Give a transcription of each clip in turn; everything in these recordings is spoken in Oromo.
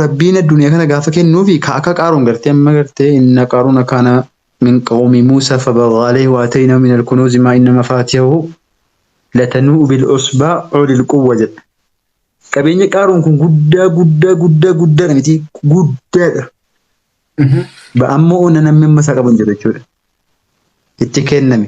rabbiin addunyaa kana gaafa kennuufi ka akka qaaruun gartee amma gartee inna qaaruun akkaana min qawmi muusa fabagha alayhi wa atayna min alkunuuzi maa inna mafaatihahu latanuu bil usbaa ulil quwwa jedha qabeenya qaaruun kun guddaa guddaa guddaa guddaadha miti guddaadha ba ammoo onna namni amma isaa qabu hin jiru jechuudha itti kenname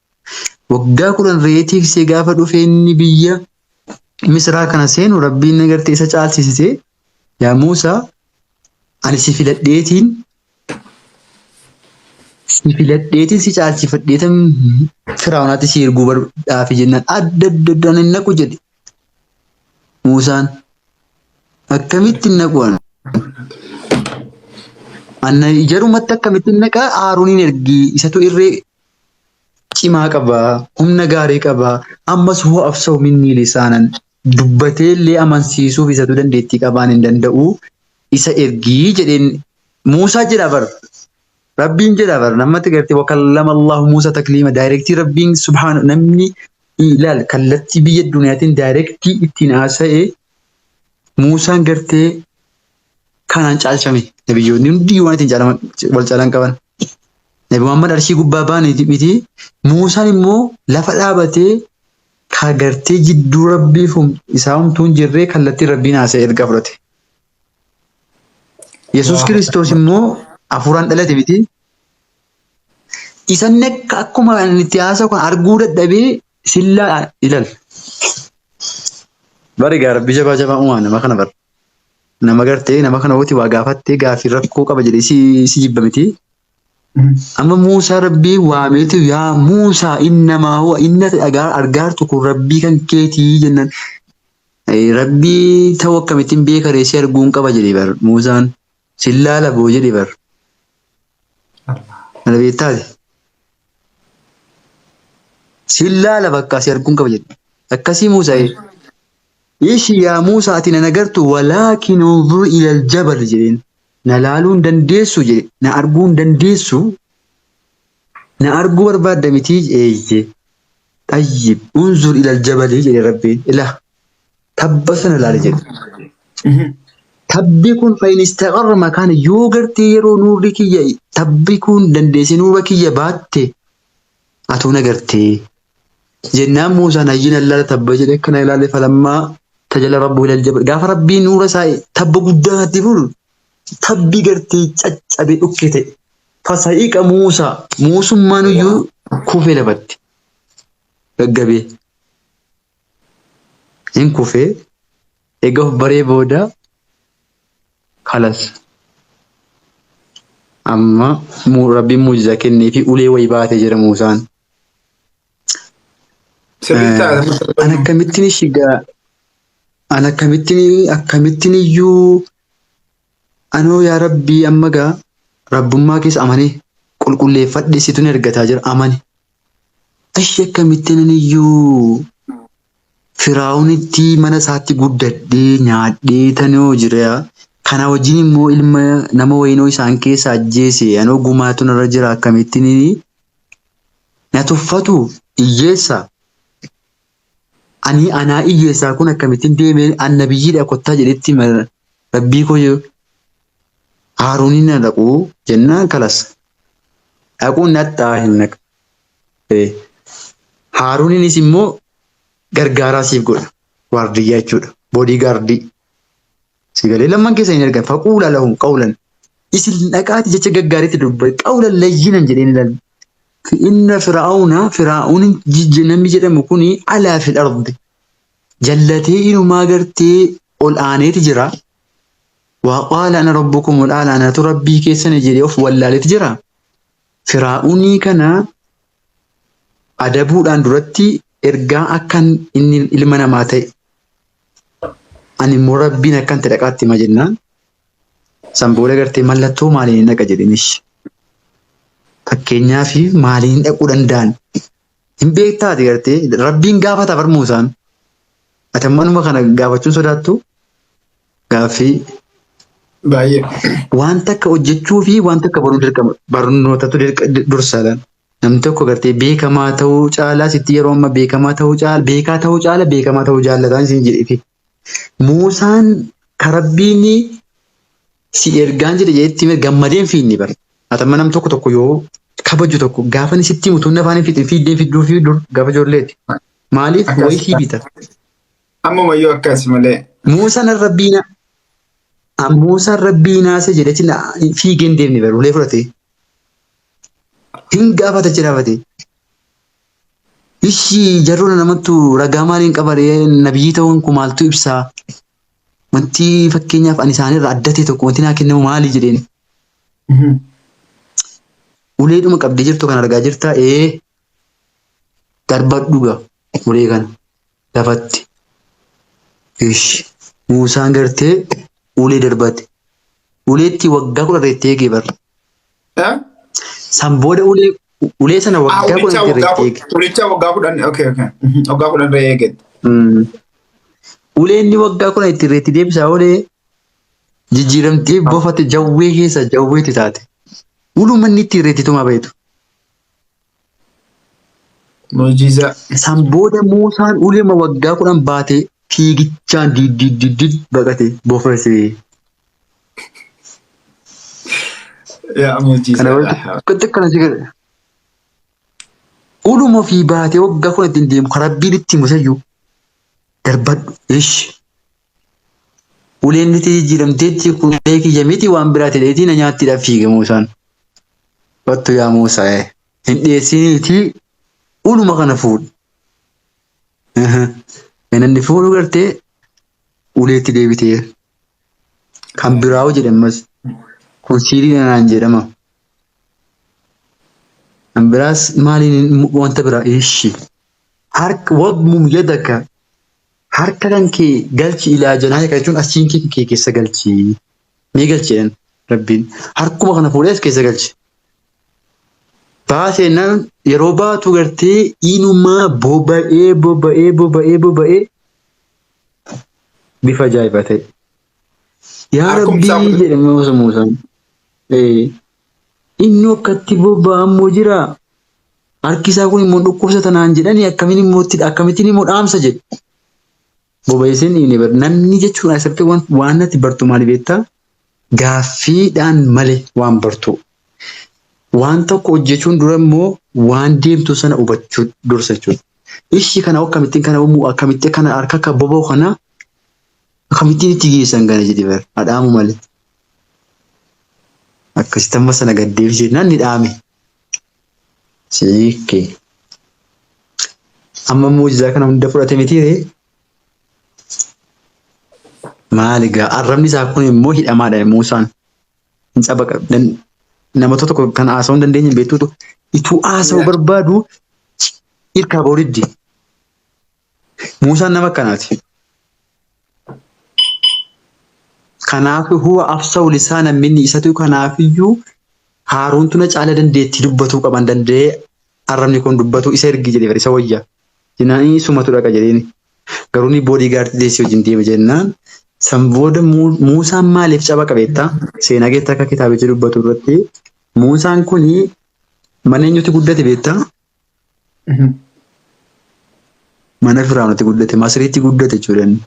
waggaa kudhan re'ee tiksee gaafa dhufee inni biyya misraa kana seenu rabbiin nagartee isa caalsisite yaa Muusaa ani si filadheetiin si filadheetiin si caalsifadheetan firaa'unaatti si erguu barbaafi jennaan adda adda addaan hin naqu jedhe Muusaan akkamitti hin naqu ana anna ijarumatti akkamitti hin naqaa Haaruuniin ergii isatu irree cimaa qaba, humna gaarii qaba, ammas hoo absoo minnii lisaanan dubbatee illee amansiisuuf isatu dandeettii qabaan hin danda'u isa ergii jedheen Muusaa jedha bar Rabbiin jedha bar namatti gartee wakallama Allahu Muusaa takliima daayirektii Rabbiin subhaana namni ilaal kallattii biyya duniyaatiin daayirektii ittiin haasa'e Muusaan gartee Kanaan caalchame nabiyyoonni hundi waan ittiin caalaman wal caalan qaban. Nabi Muhammad arshii gubbaa baane miti. Muusaan immoo lafa dhaabatee ka gartee jidduu rabbiif hum- isaa humtuu hin jirree kallattiin rabbiin haasa'e erga fudhate. Yesuus Allahu Kiristoos Akbar. immoo hafuuraan dhalate miti. Isan akka akkuma ani itti haasa'u kan arguu dadhabee sillaa ilal. Bari gaa rabbi jabaa jabaa uumaa nama kana bara. nama gartee nama kana woti waa gaafattee gaafii rakkoo qaba jedhee si, si jibba miti. Amma Muusaa rabbii waameetu yaa Muusaa innamaa huwa inna dhagaa argaartu kun rabbii kan keetii jennaan. Eh, Rabbii ta'uu akkamittiin beekaree si arguun qaba jedhe bar Muusaan. Sin laala boo jedhe bar. Mana beektaati. Sin laala bakka si arguun qaba jedhe. Akkasii Muusa'ee. Ishi yaa Muusaa ati na nagartu walaakin unzur ilal jabal jedheen. Na laaluu hin dandeessu jedhe. Na arguu hin dandeessu. Na arguu barbaadda mitii eeyyee. Xayyib unzur ilal jabali jedhe rabbiin. Ilaa. tabba sana ilaali jedhe. Tabbi kun fayyinistaqarra makaan yoo gartee yeroo nuurri kiyya tabbi kun dandeessee nuura kiyya baatte atuu na gartee. Jennaan Muusaan hayyiin allaala tabba jedhe akkana ilaale falammaa tajala rabbu ilal jabal gaafa rabbii nuura isaa tabba guddaa natti fuudhu tabbi gartee caccabe dhukke ta'e. Fasa'iqa Muusaa muusummaan iyyuu kufee lafatti gaggabee. Hin kufee eega of baree booda kalas amma mu- rabbiin muujiza kennee fi ulee wayi baate jira muusaan. Sirrii Eh, taate mata An duree. akkamittiin shigaa an akkamittiin akkamittiin iyyuu Anoo yaa rabbii amma gaa rabbummaa kees amanee qulqulleeffadhe situ na ergataa jira amani ashi akkamitti ananiyyuu firaawunitti mana isaatti guddadhee nyaadhee tanoo jiraa kana wajjin immoo ilma nama wayinoo isaan keessa ajjeese anoo gumaatu narra jira akkamittinini na tuffatu iyyeessa Anii anaa iyyuu esaa kun akkamitin deemee an nabiyyidha kottaa jedhetti ma rabbii koo yoo haarunin na dhaquu jennaan kalas dhaquun nadhaa hin naq ee haaruninis immoo gargaaraa siif godha waardiyyaa jechuudha boodii gaardii Sigalee lamman keessa hin erga faquula lahum qawlan isin dhaqaati jecha gaggaariitti dubbate qawlan layyinan jedheen ilal inna firaa'una firaa'un namni jedhamu kun alaa fil ardi jallatee inumaa gartee ol aaneeti jira waa qaala ana rabbukum ol aala anatu rabbii keessan jedhee of wallaaleeti jira firaa'unii kana adabuudhaan duratti ergaa akkan inni ilma namaa ta'e Ani immoo rabbiin akkan itti dhaqaatti hima jennaan san booda gartee mallattoo maaliin hin dhaqa jedhinish. Fakkeenyaaf maaliin dhaquu danda'an hin beektaati gartee rabbiin gaafata bar Muusaan. Ati amma anuma kana gaafachuun sodaattu gaaffii Baay'ee. waan takka hojjechuu fi waan takka baruu dirqama barnootatu dirqa- dursa laal. Namni tokko gartee beekamaa ta'uu caalaa sitti yeroo amma beekamaa ta'uu caala beekaa ta'uu caala beekamaa ta'uu jaallataan isin jedheeti. Muusaan karabbiin si ergaan jedhe jedhetti hime gammadeen fiinni bar. Atamma nam tokko tokko yoo kabaju tokko gaafa inni sitti mutuun afaan hin fixin fiiddeen fidduu fi dur gaafa ijoolleeti. Maaliif Akkas. wayii sii bita. Ammuma iyyuu akkas malee. Muusaan rabbiina Muusaan rabbiinaa si jedhetti fiigeen deemni bar ulee fudhatee. Hin gaafata achi dhaabatee. Ishi jarroona namattu ragaa maaliin qabaree nabiyyii ta'uun kun maaltu ibsaa? Wanti fakkeenyaaf ani isaanirra adda ta'e tokko wanti naa kennamu maali jedheen. Uleedhuma qabdee jirtu kan argaa jirtaa ee darbadhu ga ulee kana lafatti. Ishi Muusaan gartee ulee darbate. Uleetti waggaa kudha irra itti eegee barra. Eh? San booda ulee ulee sana Ah, waggaa ulicha kudhan irra waggaa itti eege. kudhan. Ulicha waggaa kudhan. Okay, okay. Mhm, Waggaa kudhan irra eege. Mm. Ulee inni waggaa kudhan itti irra itti deebisaa olee jijjiiramtee bofate jawwee keessa jawweetti taate. Uluma inni itti irra itti tumaa bahetu. Mu'jizaa. San booda Muusaan ulema waggaa kudhan baatee fiigichaan diiddiiddiid baqate bofese. Yaa Kana mu'jizaa. walitti akkana si godhe. Uluma ofii baatee waggaa kudhan ittiin deemu kan rabbiin itti musayyu darbadhu ishi Uleen itti jijjiiramteetti kun ulee kiyya miti waan biraa ta'eetii na nyaattiidhaaf fiige Muusaan. Wattu yaa Muusaa ee hin dhiyeessiniitii uluma kana fuudhi. Gananni fuudhu gartee uleetti deebitee kan biraa'u jedhamas kun siirii dhanaan jedhama. Kan biraas maaliin wanta biraa ishi harka wadmum yadaka Harka kan kee galchi ilaa jenaa hiika jechuun achiin kee kee keessa galchi ni galchi jedhan rabbiin harkuma kana fuudhee as keessa galchi. Baate jennaan yeroo baatu gartee inumaa boba'ee boba'ee boba'ee boba'ee bifa ajaa'ibaa ta'e. Yaa Harkumti isaa rabbii kun- jedhe Musa Muusaan. Ee, Innoo akkatti bobba'a immoo jira. Harki isaa kun immoo dhukkubsata naan jedhanii akkamiin immoo itti akkamittiin immoo dhaamsa jedhe. Bobayeeseen dhiine bar namni jechuun asirratti waan waan natti bartu maali beektaa? Gaaffiidhaan malee waan bartuu. Waan tokko hojjechuun dura immoo waan deemtu sana hubachuu dursa jechuudha. Ishii kana akkamittiin kana uumuu akkamitti kana harka akka boba'u kana akkamittiin itti geessan kana jedhe bar adhaamu malee. Akkasitti amma sana gad deebisee jennaan ni dhaame. Siikkee. Amma muujizaa kana hunda fudhate mitiiree? Maali gaa arrabni isaa kun immoo hidhamaadha Muusaan. Hin cabaqa. Nama tokko kan haasa'uu hin dandeenye beektuutu ituu haasa'uu barbaadu hirkaa ba'uu diddi. Muusaan nama akkanaati. Kanaaf huwa afsahu lisaana minni isatu kanaafiyyuu haaruuntu na caala dandeettii dubbatuu qaban danda'ee arrabni kun dubbatuu isa ergi jedhe bar isa wayya jennaan inni sumatu dhaqa jedheeni garuu ni boodii gaartii deessii wajjin deema jennaan san booda Muusaan maaliif caba qabeetta seenaa keetta akka kitaabicha dubbatu irratti Muusaan kun mana eenyutti guddate beetta Mana Firaa'unatti guddate. Masiriitti guddate jechuudha inni.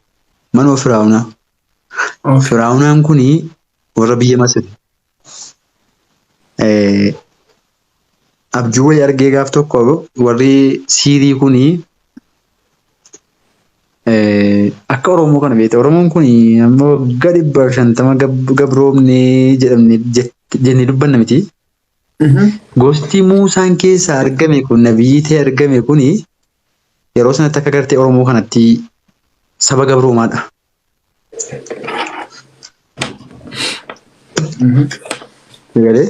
Manuma Firaa'unaa. Okay. Firaa'unaan kun warra biyya Masiri. Eh, abjuu wayii argee gaaf tokko warri siirii kun eh, akka Oromoo kana beekte. Oromoon kun amma waggaa dhibba shantama gab- gabroomnee jedhamne jett- jennee dubbanna miti. Gosti Muusaan keessaa argame kun nabiyyii ta'ee argame kun yeroo sanatti akka gartee Oromoo kanatti saba gabroomaadha. Egalee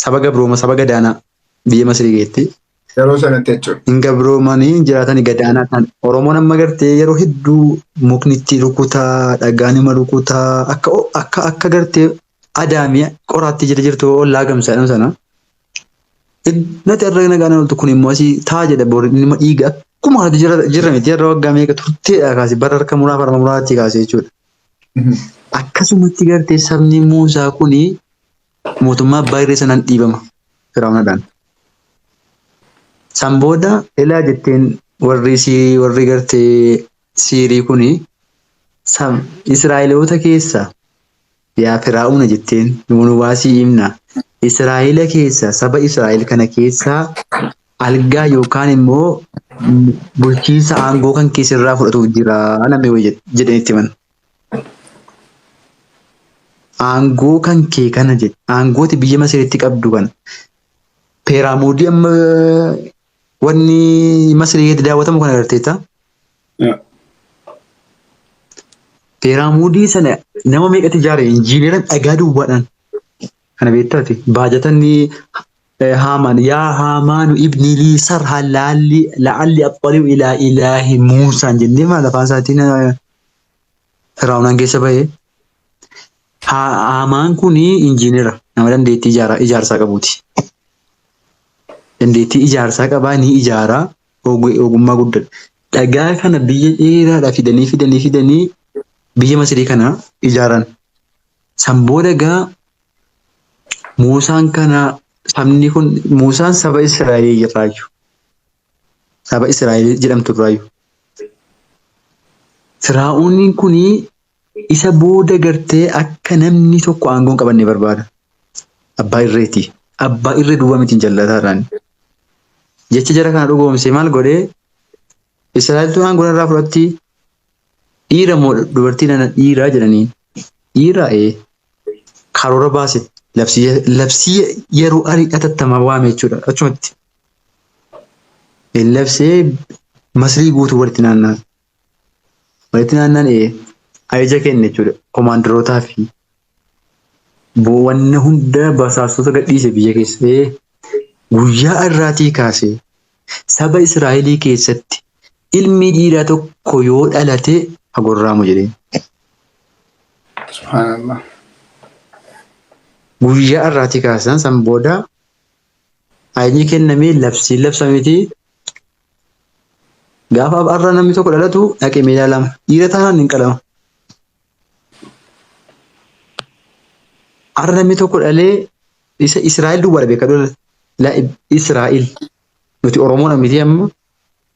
saba gabrooma saba gadaanaa biyya Masirii keessatti Yeroo sanatti jechuudha. hin gabroomanii hin jiraatani gadaanaa kan Oromoon amma gartee yeroo hedduu mukni itti rukutaa dhagaan ima rukutaa akka akka akka gartee adaamii qoraatti jira jirtu ollaa gamsaa jedhamu sana nati irra nagaan oltu kun immoo asii taa jedha boori dhimma dhiiga akkuma kanatti jira jirra miti irra waggaa meeqa turteedha kaase bara harka muraa farma muraatti kaase jechuudha. Akkasumatti gartee sabni Muusaa kuni Mootummaa abbaa irree sanaan dhiibama Firaa'oonadhaan. San booda ilaa jetteen warri isii warri gartee siirii kuni san Israa'eloota keessa yaa Firaa'oona jetteen nu baasii imna Israa'eela keessa saba Israa'eel kana keessaa algaa yookaan immoo bulchiinsa aangoo kan keessirraa fudhatuuf jira namni wayi jedheen itti himan. Aangoo kan kee kana jedhe aangooti biyya Masiritti qabdu kana peeraamoodii amma wanni Masirii keessatti daawwatamu kana agarteetta. Peeraamoodii sana nama meeqatti ijaare injiineeran dhagaa duwwaadhaan Kana beektaa ati? Baajatanni Haamaan yaa Haamaanu ibni lii sarha laalli la'alli axxali'u ilaa ilaahi Muusaan jennee maal afaan isaatiin Firaa'unaan keessa bahee. Haamaan kun injiinera nama dandeettii ijaarsaa qabuuti. Dandeettii ijaarsaa qabaa ni ijaaraa ogummaa guddaadha. Dhagaa kana biyya dheeraadhaa fidanii fidanii fidanii biyya Masirii kana ijaaran. San booda egaa Muusaan kana sabni kun Muusaan saba Israa'elii irraayyu. Saba Israa'elii jedhamtu irraayyu. Firaa'ooniin kun isa booda gartee akka namni tokko aangoo hin qabanne barbaada. Abbaa irreeti. Abbaa irree duwwaa miti hin jallataadhaan. Jecha jara kana dhugoomsee maal godhee Israa'eltu aangoo narraa fudhatti dhiira moo dubartii nana dhiiraa jedhaniin dhiiraa ee karoora baase labsii labsii yeroo arii hatattamaa waame jechuudha achumatti labsee masrii guutuu walitti naannaan walitti naannaan ee ajaja kenne jechuudha komaandarootaa fi Boo wanna hunda basaastota gadhiise biyya keessa. Ee, guyyaa irraatii kaasee saba Israa'elii keessatti ilmi dhiiraa tokko yoo dhalate ha gorraamu jedheen. Subhaanallah. Guyyaa irraatii kaasan san booda ayni kennamee labsiin labsamiti gaafa arra namni tokko dhalatu dhaqe meedaa lama dhiira taanaan hin qalama. Har'a namni tokko dhalee isa Israa'el duwwaadha beeka lola. La Israa'el. Nuti Oromoodha miti amma.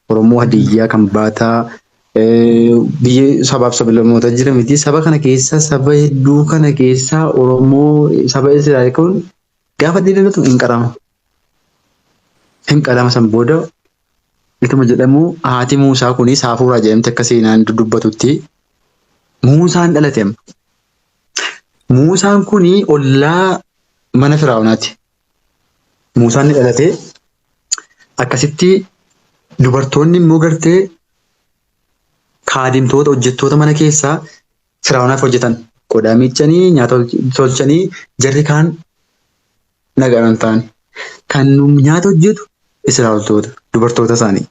Oromoo Hadiyyaa kan baataa eh, biyya sabaaf sablammoota jira miti. Saba kana keessaa saba hedduu kana keessaa Oromoo saba Israa'el kun gaafa dheedalatu hin qarama. Hin qalama san booda ituma jedhamu haati Muusaa kunis haafuuraa jedhamte akka seenaan dubbatutti Muusaan dhalate amma. Muusaan kun ollaa mana Firaa'onaati. Muusaan ni dhalate akkasitti dubartoonni immoo gartee kaadimtoota hojjettoota mana keessaa Firaa'onaaf hojjetan qodaa miiccanii nyaata tolchanii jarri kaan Nagaan hin taane. Kan nyaata hojjetu Israa'eltoota, dubartoota isaanii.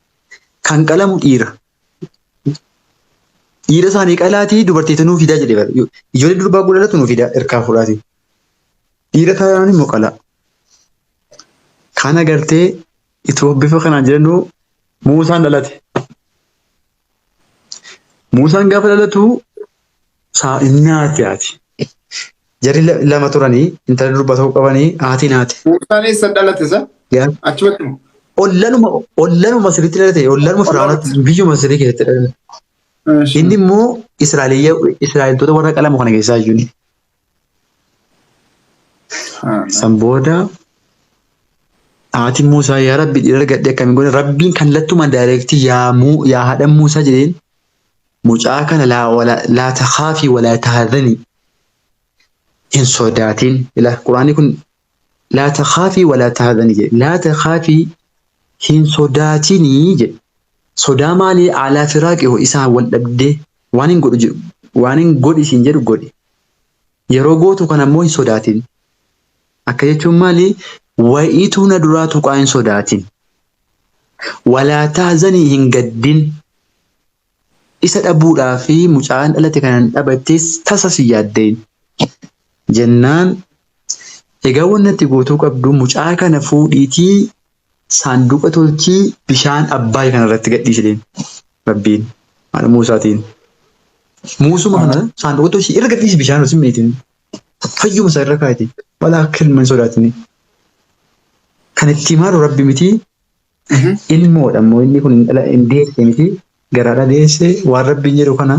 Kan qalamu dhiira. Dhiira isaanii qalaatii dubartiitu nuu fidaa jedhe bara. Ijoollee durbaa gudhadhatu nuu fidaa erkaa fuudhaatii. Dhiira taanaan immoo qalaa. Kana gartee itoo bifa kanaan jedhanuu Muusaan dhalate. Muusaan gaafa dhalatu saa'iin naati haati. Jarri la- lama turanii intala durbaa tokko qabanii haati naati. Muusaan eessa dhalate sa? Yaa Achumatti moo? ollanuma ollanuma Masiritti dhalate ollanuma Firaa'oonatti biyyuma Masirii keessatti dhalate. Inni immoo Israa'eliyya Israa'eltoota warra qalamu kana keessaa iyyuu San booda haati Muusaa yaa rabbi dhiira argadhee akkamiin godhe rabbiin kallattumaan daayireektii yaa muu yaa haadha Muusaa jedheen mucaa kana laa walaa laa takhaafii walaa tahazanii hin sodaatiin ila quraanii kun Laa takhaafii walaa tahzanii jedhe. Laa takhaafii hin sodaatinii jedhe. Sodaa maalii alaa firaaqi hoo isaan wal dhabdee waanin godhu jedhu waanin godhi siin jedhu godhi. Yeroo gootu kana immoo hin sodaatin. Akka jechuun maali wayiituu na duraa tuqaa hin sodaatin. Walaa tahzanii hin gaddin. Isa dhabuudhaaf mucaan dhalate kana hin dhabattees tasa si yaaddeeyin. Jennaan egaa wanni ati gootuu qabdu mucaa kana fuudhiitii saanduqa tolchii bishaan Abbaay kana irratti gadhiisi deemi. Rabbiin haadha Muusaatiin. Muusuma kana Ahaa. saanduqa tolchii irra gadhiisi bishaan osoo hin miitin. Fayyuma isaa irra kaa'iti. Wala akka ilma hin sodaatini. Kan itti himaaru Rabbi mitii Ilmoodha immoo inni kun hin deesse miti garaadha deesse waan rabbiin jedhu kana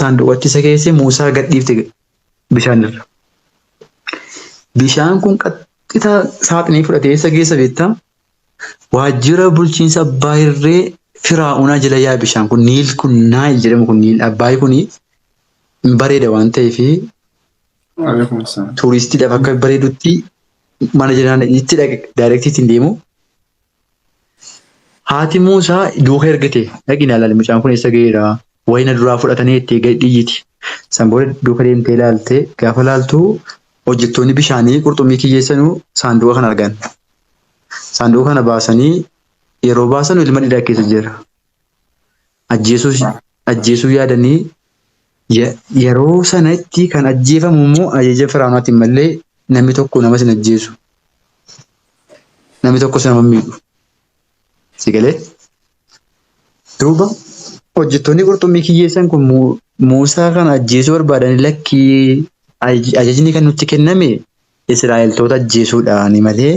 saanduqatti isa keesse Muusaa gadhiifte bishaan irra. Bishaan kun qaxxita saaxinii fudhatee isa keessa beektaa waajjira bulchiinsa abbaa irree firaa'unaa jala yaa bishaan kun niil kun naayil jedhamu kun niil abbaay kun hin bareeda waan ta'eef tuuristiidhaaf akka bareedutti mana jiraan itti dhaqe daayirektii ittiin deemu. Haati Muusaa duuka ergite dhaqi na ilaali mucaan kun eessa ga'eera wayii na duraa fudhatanii jettee gadi dhiyyiti. San booda duuka deemtee ilaalte gaafa ilaaltu hojjettoonni bishaanii qurxummii kiyyeessanuu saanduqa kana argan. Saanduqa kana baasanii yeroo baasanu ilma dhiiraa keessa jira. ajjeesuus ajjeesuu yaadanii ye- yeroo sanatti kan ajjeefamu immoo ajaja firaanaatiin malee namni tokko nama sin ajjeesu namni tokkos nama hin miidhu si galee duuba hojjettoonni qurxummii kiyyeessan kun Mu- Muusaa kana ajjeesuu barbaadanii lakkii aj- ajajni kan nutti kenname Israa'eltoota ajjeesuudhaani malee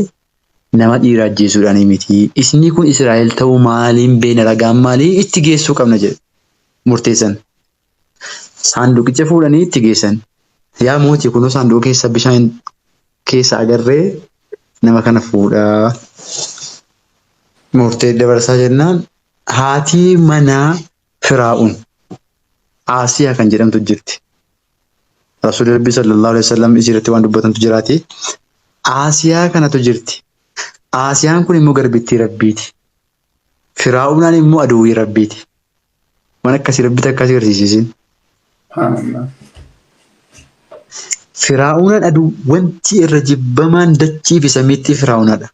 Nama dhiira ajjeesuudhaanii miti. Isnii kun Israa'el ta'uu maaliin beekna ragaan maalii itti geessuu qabna jedhe murteessan. Saanduqicha fuudhanii itti geessan. Yaa mootii kunoo saanduqa keessa bishaan keessa agarree nama kana fuudhaa. Murtee dabarsaa jennaan haatii manaa Firaa'un, Aasiyaa kan jedhamtu jirti. Rasuulli Rabbii sallallahu alaihi wasallam isii irratti waan dubbatantu jiraati. Aasiyaa kanatu jirti. Aasiyaan kun immoo garbittii Rabbiiti. Firaa'unaan immoo aduwwii Rabbiiti. Waan akkasii Rabbitti akkas agarsiisisin. Subhaanallah. Firaa'unaan aduu wanti irra jibbamaan dachii fi samiitti firaa'unaadha.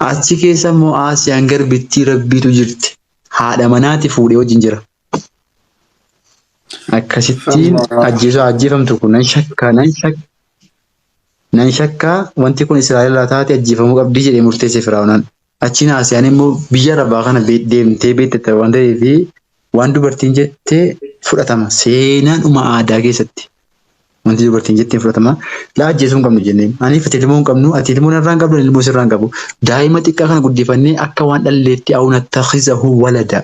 Achi keessa immoo Aasiyaan garbittii rabbiitu jirti. Haadha manaati fuudhee wajjin jira. Akkasittiin Allah. ajjeesuu ajjeefamtu kun nan shakkaa nan shakka nan shakkaa wanti kun Israa'el irraa taate ajjeefamuu qabdii jedhee murteesse Firaa'onaan. Achiin haasiyaan immoo biyya arabaa kana be- deemtee beektetta waan ta'eef waan dubartiin jette fudhatama. Seenaadhuma aadaa keessatti wanti dubartiin jette hin fudhatama. Laa ajjeesuu hin qabnu jenneen. Aniif ati ilmoo hin qabnu, ati ilmoo narraa hin qabdu, ani ilmoo sirraa hin qabu. Daa'ima xiqqaa kana guddifannee akka waan dhalleetti awnattakizahu walada.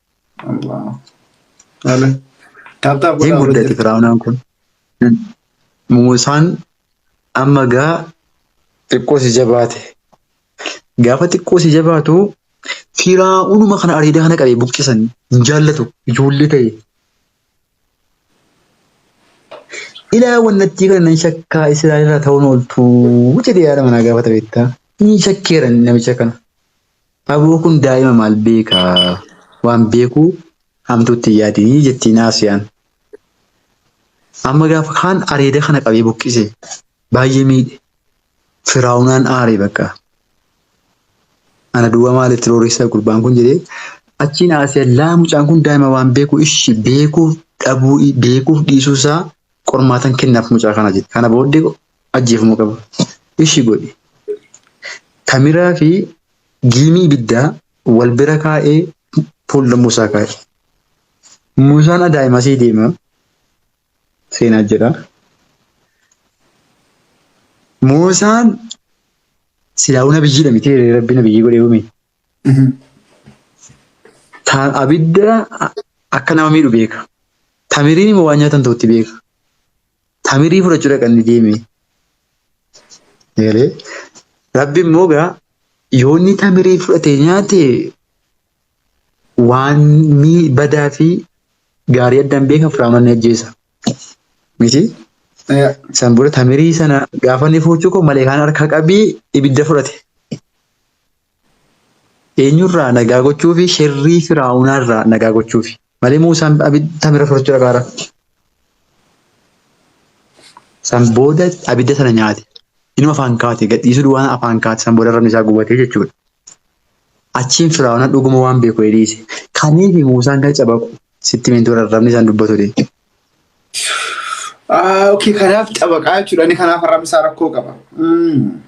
Taaptaap Hin godhaa warra muddate jirtan. firaa'unaan kun. Muusaan amma gaa xiqqoo si jabaate. Gaafa xiqqoo si jabaatu firaa'unuma kana areedaa kana qabee buqqisan hin jaallatu ijoollee ta'e. Ilaa wannattii kana nan shakkaa Israa'elirraa ta'uun ooltuu jedhee yaada manaa gaafata beektaa. Ni shakkeera namicha kana. Aboo kun daa'ima maal beeka waan beeku hamtuutti hin yaadinii jettiin Aasiyaan. Amma gaafa kaan areeda kana qabee buqqise baay'ee miidhe. Firaa'unaan aare bakka. Ana duwwaa maal itti rooressa gurbaan kun jedhee achiin Aasiyaan laa mucaan kun daa'ima waan beeku ishi beekuuf dhabuu beekuuf dhiisuu isaa qormaatan kennaaf mucaa kana jette. Kana booddee Ajjeefamuu qaba. Ishi godhi. Tamiraa fi giimii ibiddaa wal bira kaa'ee fuulda Muusaa kaa'i. Muusaan adaa'imasii deema. Seenaa jedha. Muusaan silaa'uu nabiyyiidha miti rabbi nabiyyii godhee uume. Taan abidda akka nama miidhu beeka. Tamiriin immoo waan nyaatan ta'utti beeka. Tamirii fudhachuu dhaqanni deeme. Eegalee rabbi immoo gaa yoonni tamirii fudhatee nyaate waan mii badaa fi gaarii addaan beeka firaamanni ajjeesa. Miti san booda tamirii sana gaafa inni fudhachuu koo maleekaan harkaa qabii ibidda fudhate. Eenyurraa nagaa gochuufi sherrii Firaa'unaarraa nagaa gochuufi. Malee Muusaan abidda bira fudhachuu dhaqaara. San booda abidda sana nyaate. Inuu afaan kaate gadhiisuu duwwaan afaan kaate san booda arrabni isaa gubatee jechuudha. Achiin Firaa'unaan dhuguma waan beeku dhiise. Kaniifi Muusaan kan cabaqu sitti himeen ture arrabni isaan dubbatu dee. Ah, okay, kanaaf cabaqaa jechuudha. Inni kanaaf arrabni isaa rakkoo qaba. Mm.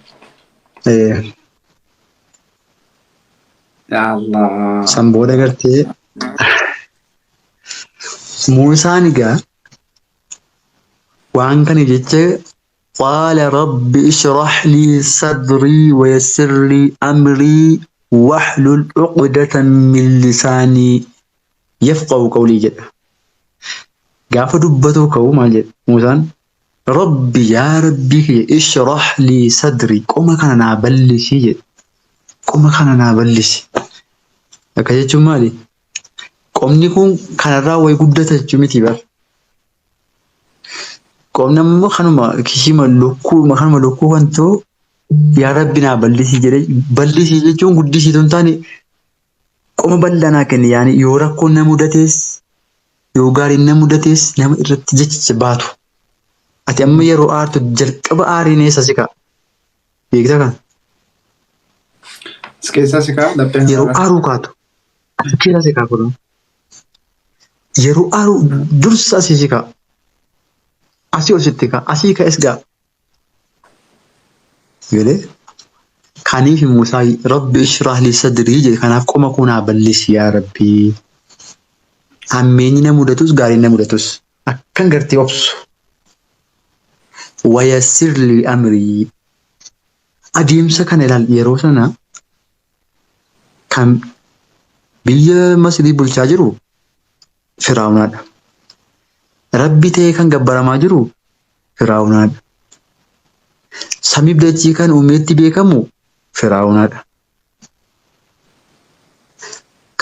Eh, Yaa Allah. San booda gartee Muusaan egaa waan kana jecha qaala rabbi ishrah lii sadrii wayassir lii amrii wahlul uqdatan min lisaanii yafqahu qawlii jedha. Gaafa dubbatuu ka'u maal jedha Muusaan Rabbi yaa rabbii kiyya ishrah lii sadri qoma kana naa ballisii jedhe qoma kana naa ballisi akka jechuun maali qomni kun kanarraa way guddata jechuu miti bar qomni ammoo kanuma kishima lukkuu kanuma lukkuu kan ta'u yaa rabbi naa ballisii jedhe ballisii jechuun guddisii tun taane Qoma bal'aa naa kenni yaani yoo rakkoon na mudatees yoo gaariin na mudatees nama irratti jecha baatu. Ati amma yeroo aartu jalqaba aariin eessa si ka'a? Beekta kana? As keessaa si ka'a laphee Yeroo hararaa. aaruu kaatu as keessaa si ka'a kunoo. Yeroo aaruu dursa asii si ka'a. Asii ol sitti ka'a. Asii ka'es ga'a. Galee kaniif immoo isaa rabbi ishraah lii sadrii jedhe kanaaf qoma koo naa bal'isi yaa rabbi. Hammeenyi na mudatus gaariin na mudatus akkan gartee obsu. Wayassir lii amrii adeemsa kana ilaal yeroo sana kan biyya Masrii bulchaa jiru Firaawnaadha. Rabbi ta'ee kan gabbaramaa jiru Firaawnaadha. Samiif dachii kan uumeetti beekamu Firaawnaadha.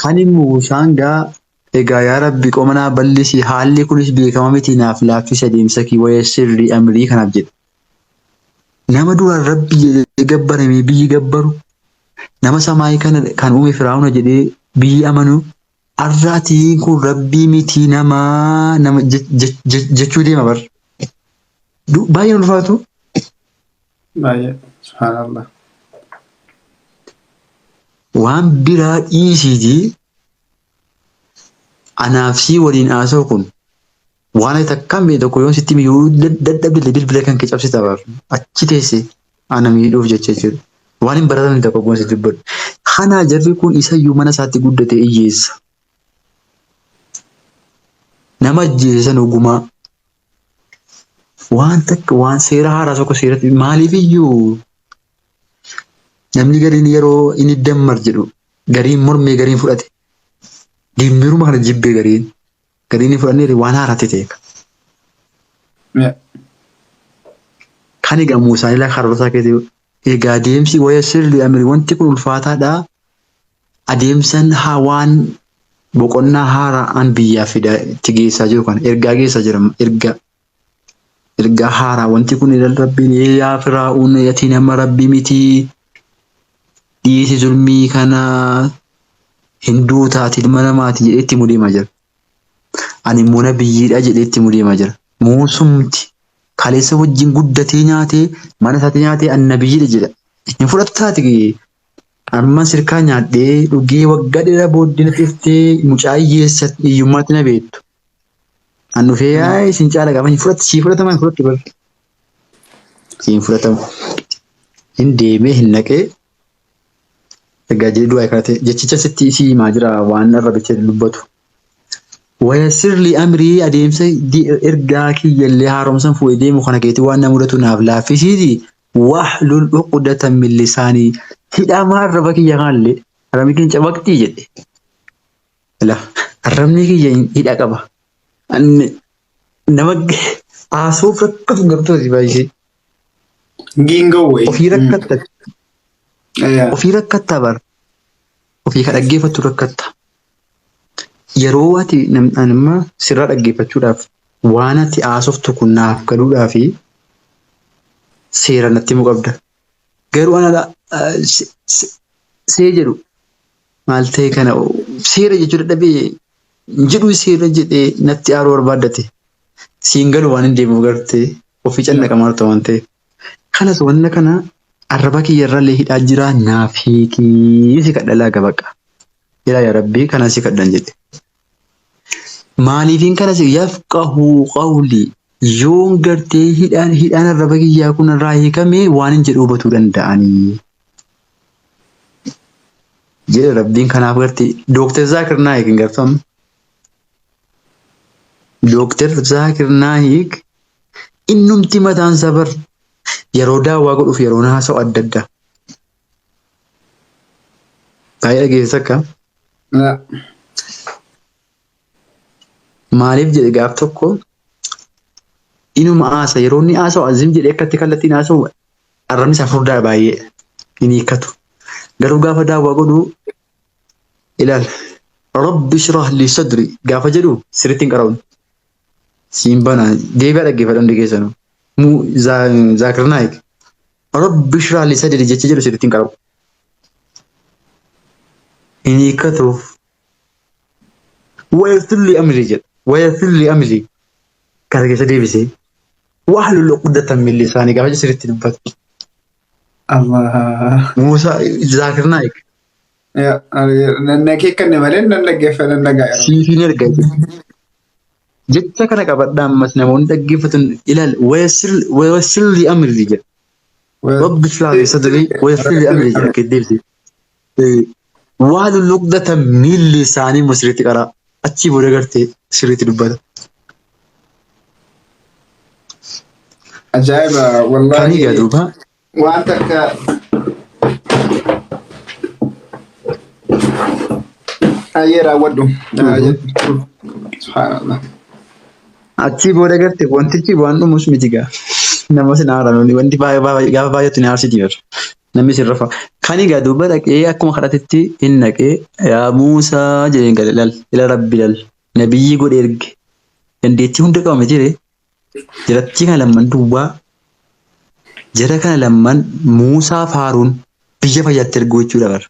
Kan immoo Muusaan gaa egaa yaa Rabbi qoma naa bal'isi haalli kunis beekama miti naaf laaffisi adeemsa kee waya sirrii amrii kanaaf jedhe. Nama duraan Rabbi jedhee gabbaramee biyyi gabbaru nama samaayii kana kan uume Firaawna jedhee biyyi amanu Arraa tiin kun rabbii mitii namaa nama jechuu deema bar. Baay'ee ulfaatu. Baay'ee subhaanallah. Waan biraa dhiisiitii anaaf sii waliin haasa'u kun Waan ati takkaan beekne tokko yoon sitti miyyuu dadhabdille bilbila kan kee cabsita baaf achi teesse ana miidhuuf jecha jechuudha. Waan hin baratamne tokko goon si dubbadhu. Kanaa jarri kun isayyuu mana isaatti guddate iyyeessa. Nama ajjeese san ogumaa waan takka waan seera haaraa tokko seeratti maaliif iyyuu namni gariin yeroo inni dammar jedhu gariin mormee gariin fudhate dimmiruma kana jibbee gariin Gadii ni fudhanneerri waan haaraatti ta'eef. Kan egaa Muusaan ilaa karoorsaa keetii egaa adeemsi waya sirri amiri wanti kun ulfaataadha. Adeemsan haa waan boqonnaa haaraan biyyaaf fidaa itti geessaa jiru kana ergaa geessaa jira ergaa ergaa haaraa wanti kun ilal rabbiin yaa firaa'uun ati nama rabbi miti dhiisi zulmii kana hinduu taati ilma namaati jedhee itti mudeemaa jira. Ani immoo nabiyyiidha jedhee itti mudeemaa jira. Muusumti kaleessa wajjin guddatee nyaatee mana isaatti nyaatee ani nabiyyiidha jedha. Hin fudhatu taati amma sirkaa nyaadhee dhugee waggaa dheeraa booddee na dhiftee mucaa hiyyeessa hiyyummaatti na beektu. An dhufee yaa isin caala gaafa hin fudhatu sii fudhatama hin fudhattu bar. Siin fudhatamu. Hin deemee hin naqee egaa jee du'aa kaate jechicha sitti isii himaa jira waan arrabicha dubbatu. Wayasirli amrii adeemsa di- ergaa kiyyallee haaromsan fuudhee deemu kana keetii waan na mudatu naaf laaffisiiti wahlul uqdatan min lisaanii hidhamaa arraba kiyya kanallee arrabni kiyya cabaqxii jedhe. Ila arrabni kiyya hidha qaba. Anni nama haasawuuf rakkatu gartooti baay'isee. Giingoo wayii. Ofii rakkatta. Ayaa. Ofii rakkatta bar. Ofii ka dhaggeeffattu rakkatta. Yeroo ati nam- ani amma sirraa dhaggeeffachuudhaaf waan ati haasoftu kun naaf galuudhaaf seera natti himuu qabda. Garuu ana dha- eh, se- se- see jedhu Maal ta'e kana seera jechuu dadhabee hin jedhuu seera jedhee natti aaruu barbaaddate. Siin galu waan hin deemuuf gartee ofii cannaqa maaltu waan ta'eef. Kanas wanna kana arraba kiyya irrallee hidhaa jira naaf hiikii si kadhalaa gabaqa. Ilaa yaa rabbii kanan si kadhan jedhe. Maaliifin kana si yafqahu qawli yoon gartee hidhaan hidhaan arraba kiyyaa kun irraa hiikame waan hin jedhu hubatuu danda'anii. Jedhe rabbiin kanaaf gartee Dooktar Zaakir Naayik hin garfamne. Dooktar Zaakir Naayik innumti mataan sabar yeroo daawwaa godhuuf yeroo haasa'u adda addaa. Baay'ee dhageessisa akka Laa. maaliif jedhe gaaf tokko inuma haasa yeroo inni haasa'u azim jedhee akkatti kallattiin haasa'u arrabni isaa furdaa baay'ee hin hiikkatu. Garuu gaafa daawwaa godhu ilaal rabbi shrah li sadri gaafa jedhu sirriitti hin qara'u. Siin bana deebi'aa dhaggeeffadha hundi keessanuu. Mu Zaakir Naayik. Rabbi shiraa lisa didi jecha jedhu sirriitti hin qabu. Hin hiikkatuuf. Wayafilli amri jedha. Wayafilli amri. Kana keessa deebisee. Wahlu luqdatan min lisaani gaafa jedhu sirriitti dubbata. Allah. Muusaa Zaakir Naayik. Nanna keekkanne malee nan dhaggeeffa nan dhaga'a. Siif hin erga. Jecha kana qabadhaa ammas namoonni dhaggeeffatan ilaal wayasir li amri jedha. Rabbi ishrah li sadri wayasir li amri jedha akka deebise. Waalu luqdata miilli isaanii immoo sirriitti qaraa achii booda gartee sirriitti dubbata. Ajaa'iba Kanii gaa wallaahi duuba Waan takka ayyee raawwadhu. Subhaanallah. Achii booda garte wantichi waan dhumus miti gaa. Nama sin haaraan wanti baay'ee baay'ee gaafa baay'atu ni haarsiti jiru. Namni sin rafa. Kan egaa duuba dhaqee akkuma kadhatetti hin dhaqee yaa Muusaa jedheen gale lal ila rabbi lal nabiyyi godhe erge dandeettii hunda qaba miti ree Jarattii kana lamman duwwaa jara kana lamman Muusaa fi Haaruun biyya fayyatti erguu jechuudha bara.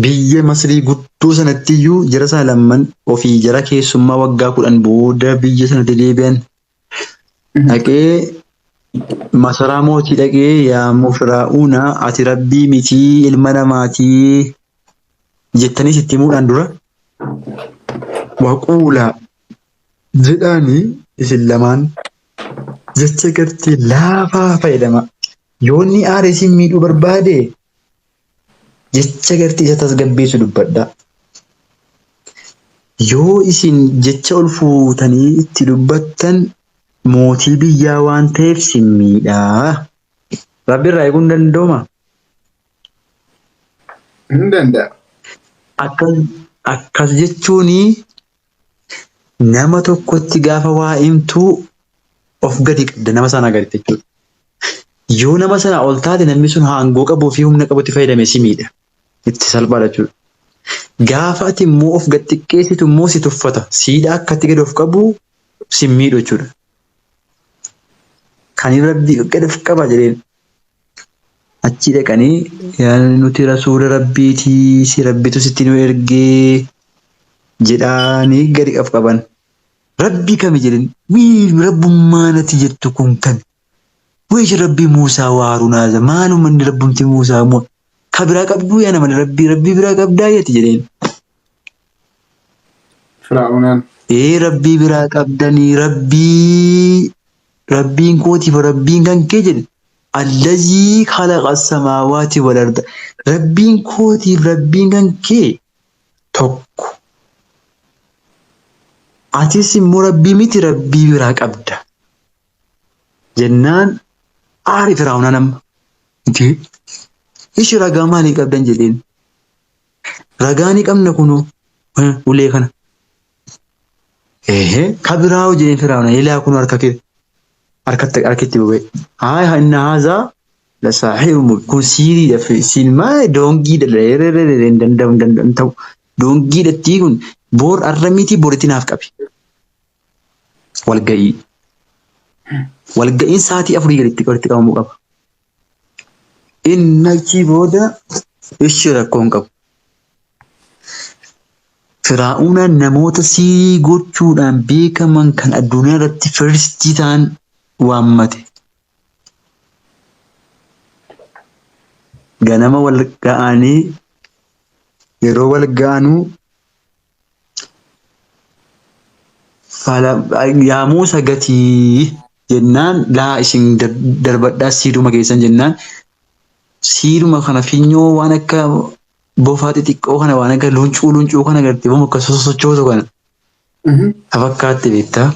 Biyya Masrii guddoo sanatti iyyuu jara sana lamman ofii jara keessummaa waggaa kudhan booda biyya sanatti deebi'an dhaqee masaraa mootii dhaqee yaa mufiraa'uuna ati rabbii mitii ilma namaatii jettanii sitti himuudhaan dura waquulaa jedhaanii isin lamaan jecha gartee laafaa fayyadama yoonni aare isin miidhuu barbaade Jecha gartii isa tasgabbeessu dubbadhaa. Yoo isin jecha ol fuutanii itti dubbattan mootii biyyaa waan ta'eef sin miidha. Rabbi irraa eeguun danda'umaa? Hin danda'a. Akkas jechuun Nama tokkotti gaafa waa himtuu of gadi qabda nama sana gaditti jechuudha. Yoo nama sana ol taate namni sun aangoo qabuu fi humna qabutti fayyadame si miidha. Itti salphaadha jechuudha. Gaafa ati immoo of gad xiqqeessitu immoo si tuffata. Siidha akkatti gad of qabu si miidhu jechuudha. Kan rabbi gad of qaba jedheen Achii dhaqanii yaa nuti rasuula rabbiitii si rabbitu sitti nu ergee jedhaanii gadi qaf qaban. Rabbii kami jedhin mii rabbummaa nati jettu kun kami? Waysh rabbii Muusaa wa Haaruun haaza maaluma inni rabbumti Muusaa mo ka biraa qabduu yaa nama rabbii rabbii biraa qabdaa yati jedheen. Firaa'unaan. Ee rabbii biraa qabdanii rabbii Rabbiin kootiif Rabbiin kan kee jedhe allazii khalaqa samaawaati wal arda Rabbiin kootiif Rabbiin kan kee tokko atis immoo Rabbii miti Rabbii biraa qabda jennaan aari firaa'unaa nama itti ishi ragaa maalii qabdan jedheen ragaa ni qabna kunoo ulee kana Ehe kabiraawo jedhee firaawna ilaa kun harka kee harkatti harkitti bubee haay haa inna haazaa la saaxiru mub kun siiriidha fi siin maa doongiidha la erererere hin danda'u hin danda'u hin ta'u doongiidha tii kun boor arra mitii boritti naaf qabi walga'ii walga'iin saatii afurii gaditti walitti qabamuu qaba. Inni achii booda ishi rakkoo hin qabu. Firaa'uunaan namoota siirii gochuudhaan beekaman kan addunyaa irratti firstii ta'an waammate. Ganama wal ga'anii yeroo wal ga'anuu Fala- Yaa Muusa gatii jennaan laa isin dar- darbadhaa siiduma keessan jennaan siiduma kana finyoo waan akka bofaa xixiqqoo kana waan akka luuncuu luuncuu kana garte boom akka sosochootu kana ta fakkaatte beektaa.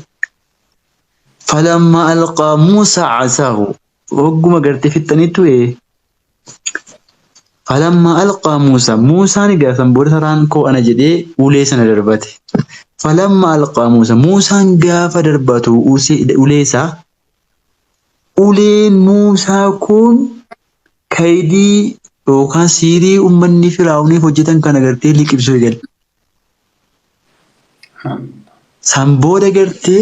Falamma alqaa Muusa casaahu hogguma garte fixxanitti ee Falammaa alqaa Muusaa Muusaan egaa san booda saraan koo ana jedhee ulee sana darbate. Falammaa alqaa Muusaa Muusaan gaafa darbatu ulee isaa uleen Muusaa kun kaydii yookaan siirii uummanni firaa'uuniif hojjetan kana gartee liqimsuu eegale. San booda gartee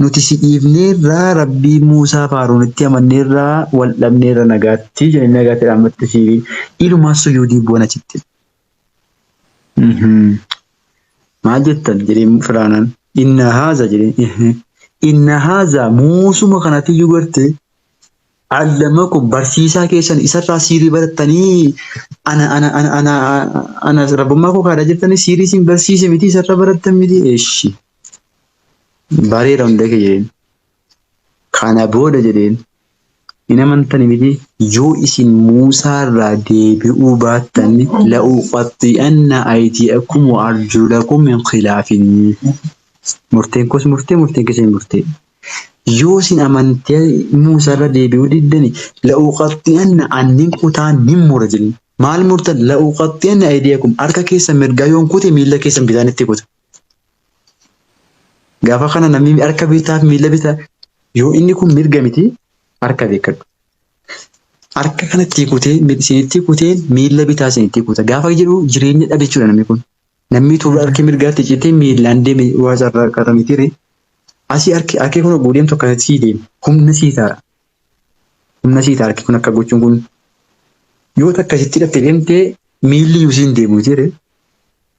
Nuti si dhiifneerra Rabbii Muusaa faaruunitti amanneerra wal dhabneerra nagaatti jedhanii nagaatti dhaammatte siiri ilumaa sujuudii bu'an achitti. Maal jettan jedhee firaanaan inna haaza jedhee inna haaza muusuma kanatiyyuu garte allamakum barsiisaa keessan isarraa siirii barattanii ana ana ana ana ana rabbummaa koo kaadha jettanii siirii isin barsiise miti isarra barattan miti eeshi Bareera hunda kee jedheen. Kana booda jedheen hin amantani miti yoo isin Muusaa irraa deebi'uu baattan la'uqaxxi'anna aydiyakum wa arjulakum min khilaafin murteen koos murtee murteen keessan murtee yoo isin amantee Muusaa irra deebi'uu diddani la'uqaxxi'anna annin kutaa nin mura jedhin maal murtan la'uqaxxi'anna aydiyakum harka keessan mirgaa yoon kute miila keessan bitaan itti kuta Gaafa kana namni harka bitaa fi miila bitaa yoo inni kun mirga miti harka beekadhu. Harka kanatti kutee isinitti kutee miila bitaa isinitti kuta. Gaafa jedhu jireenya dhabe jechuudha namni kun. Namni tuuba harki mirgaatti citee miilaan deeme waa carraa qaata mitiire. Asii harki harki kun oguu deemtu akkasitti sii deema. Humna sii ta'a. Humna sii ta'a harki kun akka gochuun kun. Yoo akkasitti dhatte deemtee miilli iyyuu siin deemu mitiire.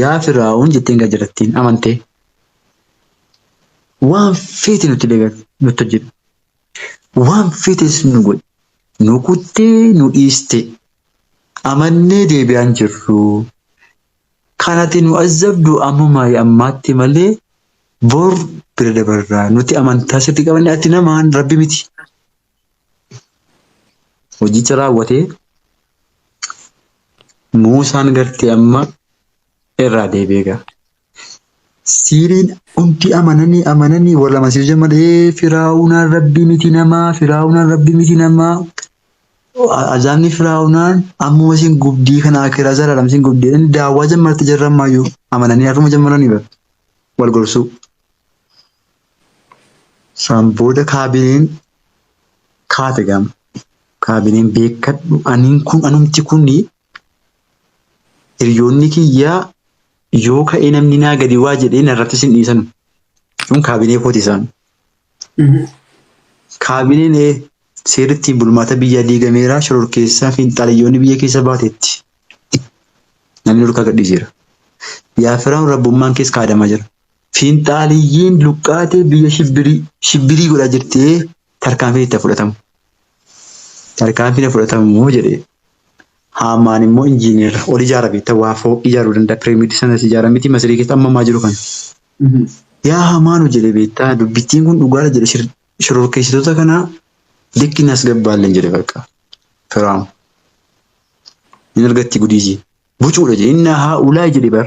Yaa Firaa'oon jetteen gara jarattiin amantee waan feete nutti dagar nutti hojjedhu. Waan feetes nu godhi. Nu kuttee nu dhiistee amannee deebi'aan jirru. Kan ati nu azzabdu ammuma ammaatti malee bor bira dabarra. Nuti amantaa sirti qabanne ati namaan rabbi miti. hojicha raawwatee Muusaan gartee amma irraa deebi'ee ga'a. Siiriin hundi amananii amananii wal amansiisuu malee firaa'unaan rabbii miti namaa firaa'unaan rabbii miti namaa azaabni firaa'unaan ammuma isin gubdii kana akiraa zalaalam isin gubdii daawwaa jammarti jarramaayyuu amananii har'uma jammaranii wal gorsuu. San booda kaabineen kaate gama. Kaabineen beekadhu aniin kun anumti kuni hiriyoonni kiyyaa yoo ka'ee namni naa gadi waa jedhee narratti sin dhiisanu. Jechuun kaabinee kooti isaan. Kaabineen ee seerri ittiin bulmaata biyyaa diigameera shororkeessaa fi xalayyoonni biyya keessa baateetti. Namni dhorkaa gadhiiseera. Yaa Firaa'oon rabbummaan kees kaadamaa jira. Fiinxaaliyyiin luqqaatee biyya shibbirii shibbirii godhaa jirtee tarkaanfiin itti fudhatamu. Tarkaanfiin fudhatamu jedhee. Haamaan immoo injiineera. Ol ijaara beektaa waa fooq ijaaruu danda'a. Pireemiidii sanas ijaara miti masirii keessa amma ammaa jiru kana. Yaa hamaanu jedhe beektaa dubbittiin kun dhugaadha jedhe shir- shororkeessitoota kanaa likki nas gabbaalleen jedhe bakka. Firaam. Hin argatti gudiisii. Bucuudha jedhe. Inna haa ulaa jedhe bar.